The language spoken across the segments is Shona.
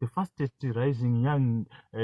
the fastest rising young uh,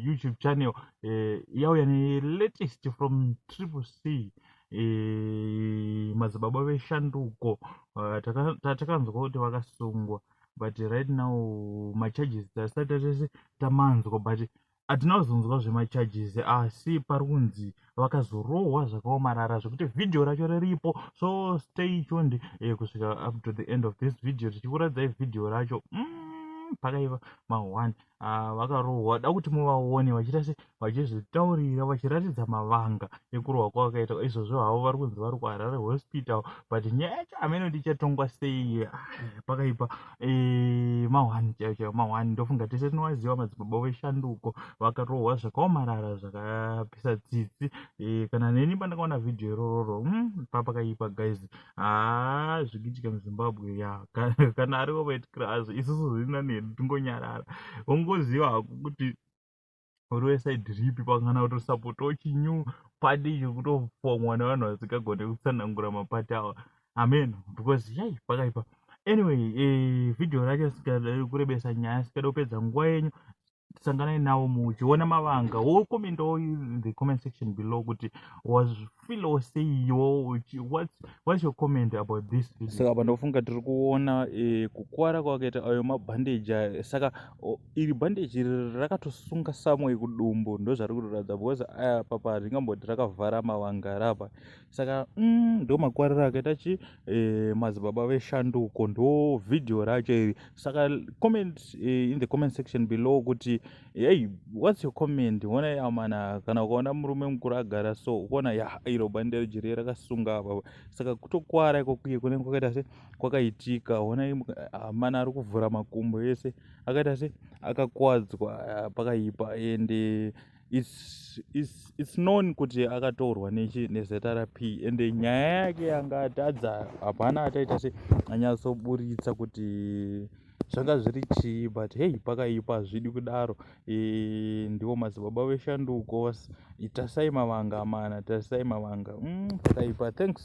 youtube channel uh, yauya nelatest from triple c uh, madzibaba veshanduko uh, tatakanzwa kuti vakasungwa but right now macharges tasati tatese tamanzwa but hatina kuzonzwa zvemacharges asi pari kunzi vakazorohwa zvakaomarara zvekuti vhidhiyo racho riripo so stay tuned eh, kusvika up to the end of this video tichikuradzai vhidhiyo racho mm, pakaiva mahwani ah, vakarohwa da kuti muvaone vachiita se vachizvitaurira vachiratidza mavanga ekurohwa kwavakaita izvozvo havo vari kunzi vari kuharare hospital but nyaya yacho hameno tichatongwa sei ah, pakaipa mahwani chaiyo chaiyo mahwani ndofunga tese tinovaziva madzibaba veshanduko vakarohwa zvakaomarara zvakapisa tsitsi e, kana neni pandakaona vhidhiyo irororo mm, papakaipa guys haa ah, zvikiitika muzimbabwe ya kana arivo vaitikira azvo isusu zvirina nedu tingonyarara ungoziva hako kuti uri wesaidi ripi pakana kutosapotawo chinyu pati icho kutofomwa nevanhu vasingagone kutsanangura mapati awa amen because yai pakaipa anyway eh, vhidhiyo racho sikada kurebesa nyaya sikada kupedza nguva yenyu sanganai navo muchiona mavanga wokomendawo the comment section below kuti was feel or say yo what's, what's your comment about this video saka apa ndofunga tiri kuona eh, kukwara kwakaita ayo mabhandeji ayo saka oh, iri bhandeji iri rakatosunga samwe kudumbu ndozvari kutoratidza because aya papa ringamboti rakavhara mavanga rapa saka mm, ndo makwariro akaita chi eh, madzibaba veshanduko ndo vhidhiyo racho iri saka comment eh, in the comment section below kuti Hey, what's your comment? Ukaona ya mana kana ukaona murume mukuru agara so ukaona ya iro bande rejiri rakasunga apa saka kutokwara iko kuye kunenge kwakaita se kwakaitika ona amana ari kuvhura makumbo ese akaita se akakwadzwa pakaipa ende it's, it's, it's known kuti akataurwa nechi nezrp ende nyaya yake yanga atadza hapana ataita se anyatsoburitsa kuti zvanga zviri chii but hei pakaipa hazvidi kudaro e, ndivo madzibaba veshanduko itasai mavanga amana tarisai mavanga mm, pakaipa thanks